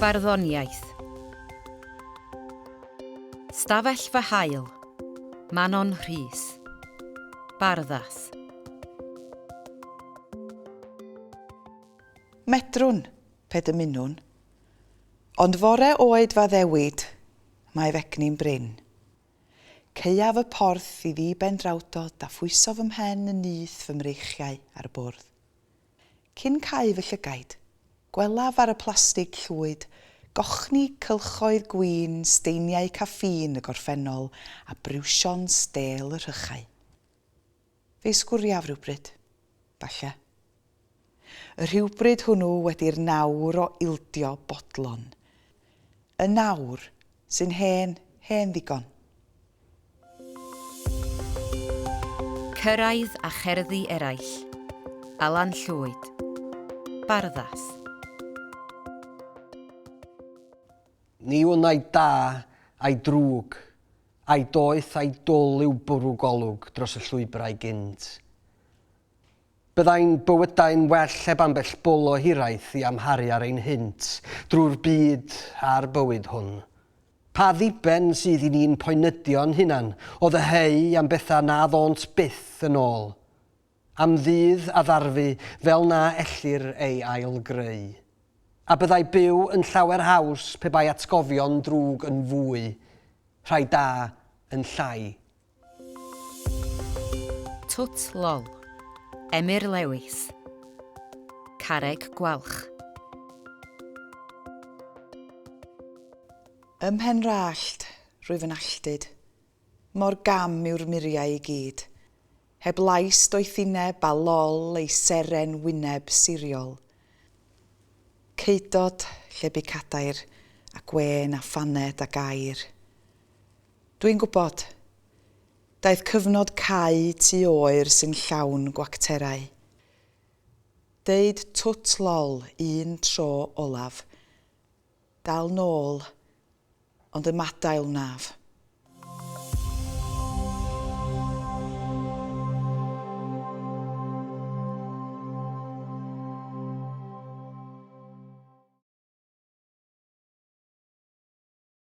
Barddoniaeth. Stafell fy hael. Manon Rhys. Barddas. Medrwn, pe dymunwn. Ond fore oed f'addewid, mae f'egni'n brin. Caeaf y porth i ddi ben drawdod a phwyso fy mhen yn nyth fy mreichiau ar y bwrdd. Cyn cau fy llygaid, gwelaf ar y plastig llwyd gochni cylchoedd gwin steiniau caffîn y gorffennol a briwsion stêl y rhychau. Fe'i sgwriaf rywbryd, falle. Y rhywbryd hwnnw wedi'r nawr o ildio bodlon. Yn awr, sy'n hen, hen ddigon. Cyrraedd a cherddi eraill. Alan Llwyd. Barddas. Ni wn ai da, ai drwg, ai doeth ai dwl yw bwrw golwg dros y llwybrau gynt. Byddai'n bywydau'n well heb ambell bwl o hiraeth i amharu ar ein hynt drwy'r byd a'r bywyd hwn. Pa ddiben sydd i ni'n poenydio'n hunan o ddyheu am bethau na ddônt byth yn ôl? Am ddydd a ddarfu fel na ellir ei ail-greu? A byddai byw yn llawer haws pe bai atgofion drwg yn fwy, rhai da yn llai? Twt Lol. Emyr Lewis. Carreg Gwalch. Ym mhen 'r allt, rwyf yn alltud. Mor gam yw'r muriau i gyd. Heb lais doethineb a lol ei seren wyneb siriol. Ceudod, lle bu cadair, a gwên a phaned a gair. Dwi'n gwybod. Daeth cyfnod cau tŷ oer sy'n llawn gwacterau. Deud twt lol un tro olaf. Dal nôl, ond ymadael wnaf.